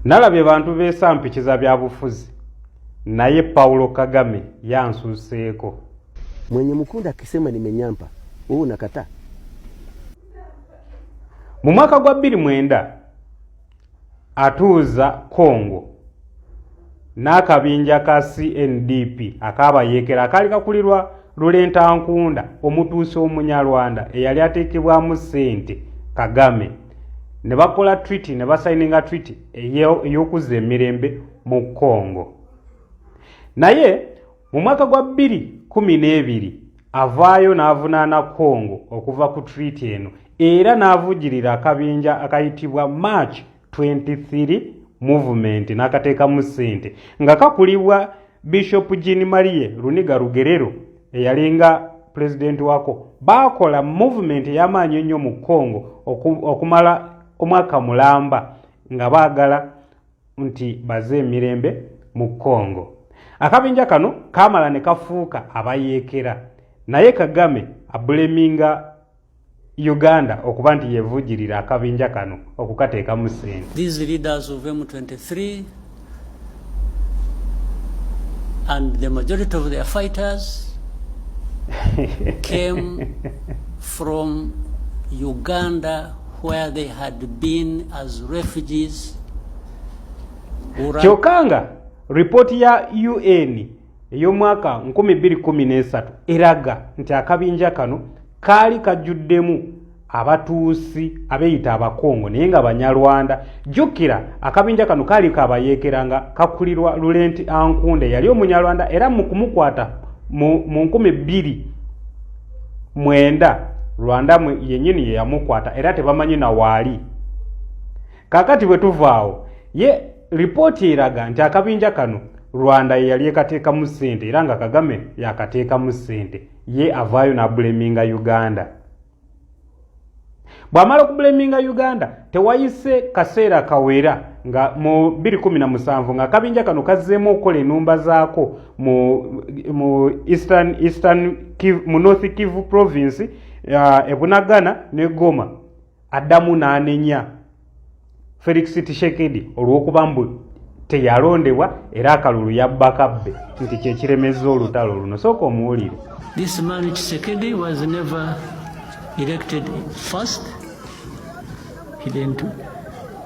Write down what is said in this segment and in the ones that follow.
Nalabye bantu beesa mpikiza bya bufuzi naye Paulo Kagame yansuseeko. Mwenye mukunda akisema nimenyampa wewe unakataa. Mu mwaka gwa bbiri mwenda atuuza Congo n'akabinja ka CNDP akaabayeekera akaali kakulirwa Lulenta Nkunda omutuusi Omunyarwanda eyali ateekebwamu ssente Kagame. ne bakola treaty ne basayininga treaty ey'okuzza emirembe mu congo naye mu mwaka gwa bbiri kumi n'ebiri avaayo n'avunaana congo okuva ku treaty eno era n'avujirira akabinja akayitibwa march 23 movement n'akateekamu ssente nga kakulibwa bishop jean marie runiga rugerero eyalinga pulezidenti waako baakola movement ey'amaanyi ennyo mu congo okumala omwaka mulamba nga baagala nti baze emirembe mu congo akabinja kano kaamala ne kafuuka abayeekera naye kagame abuleminga Uganda okuba nti yevujirira akabinja kano okukateekamu sente. These leaders of M23 and the majority of their fighters came from Uganda where they had been as refugees. Kyokanga report ya UN ey'omwaka 2013 eraga nti akabinja kano kaali kajjuddemu abatuusi abeeyita abakongo naye nga banyarwanda jjukira akabinja kano kaali kabayeekera nga kakulirwa lulenti ankunda eyali omunyarwanda era mu kumukwata mu 2 mwenda rwanda yennyini yeyamukwata era tebamanyi na waali kakati bwe tuvaawo ye lipooti eraga nti akabinja kano rwanda ye yali ekateekamu ssente era nga kagame yakateekamu ssente ye avaayo n'abuleminga uganda bw'amala okubuleminga uganda tewayise kaseera kawera nga mu 217 nga akabinja kano kazzeemu okukola enumba zaako mu, mu eastern, eastern mu north kivu province uh, ebunagana ne goma addamu n'anenya felix tishekedi olw'okuba mbu teyalondebwa era akalulu yabbakabbe nti kyekiremezza olutalo luno sooka omuwulire this man tishekedi was never elected first he didn't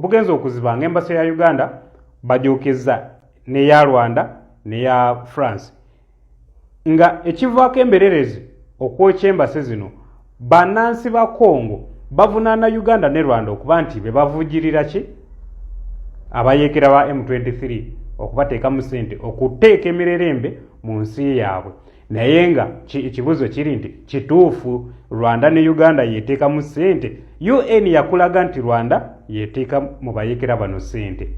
bugenze okuziba nga embasa ya uganda bajokezza neya rwanda neya france nga ekivaako embererezi okwokya embase zino bannansi ba congo bavunaana uganda ne rwanda okuba nti be bavujirira ki abayeekera ba m23 okubateekamu sente okuteeka emirerembe mu nsi yaabwe naye nga ekibuzo kiri nti kituufu rwanda ne uganda yeteekamu sente un yakulaga nti rwanda yeteeka mu bayekera bano sente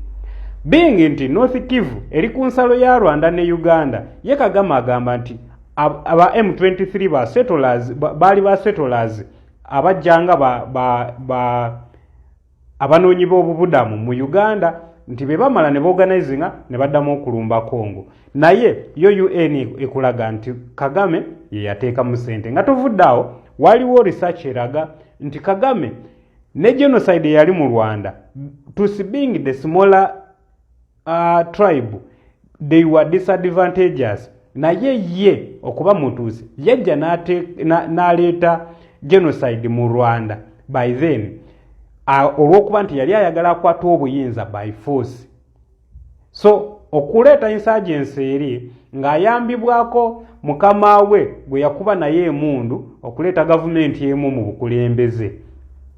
being nti north kivu eri ku nsalo ya rwanda ne uganda ye kagama agamba nti aba m23 ba settlers baali ba settlers abajjanga ba, ba, ba abanoonyi b'obubudamu mu uganda nti be bamala ne boganizinga ne baddamu okulumba congo naye yo un ekulaga nti kagame ye yateekamu sente nga tovudde awo waliwo research eraga nti kagame ne genocide eyali mu rwanda tusi being the smaller uh, tribe they were disadvantages naye ye okuba mutuusi yajja n'aleeta na, genocide mu rwanda by then uh, olw'okuba nti yali ayagala akwata obuyinza by force so okuleeta insurgency eri ng'ayambibwako mukama we gwe yakuba naye emundu okuleeta gavumenti emu mu bukulembeze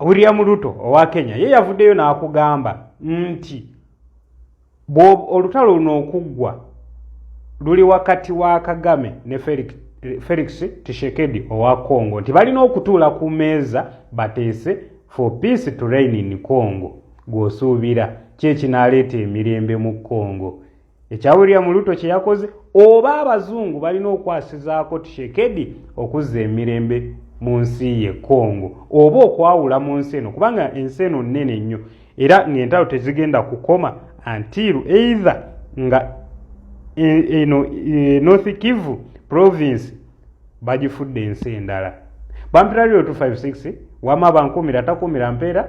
William Ruto owa Kenya ye yavuddeyo n'akugamba nti olutalo luno okuggwa luli wakati wa Kagame ne Felix, Felix Tshisekedi owa Congo nti balina okutuula ku meeza bateese for peace to reign in Congo gw'osuubira kye kinaaleeta emirembe mu Congo. ekya william luto kye yakoze oba abazungu balina okwasizaako tishekedi okuzza emirembe mu nsi ye congo oba okwawula mu nsi eno kubanga ensi eno nnene nnyo era ng'entalo tezigenda kukoma antiru either nga e-, eno e-, north kivu province bagifudde ensi endala bampira lyo 256 wama bankuumira takuumira mpeera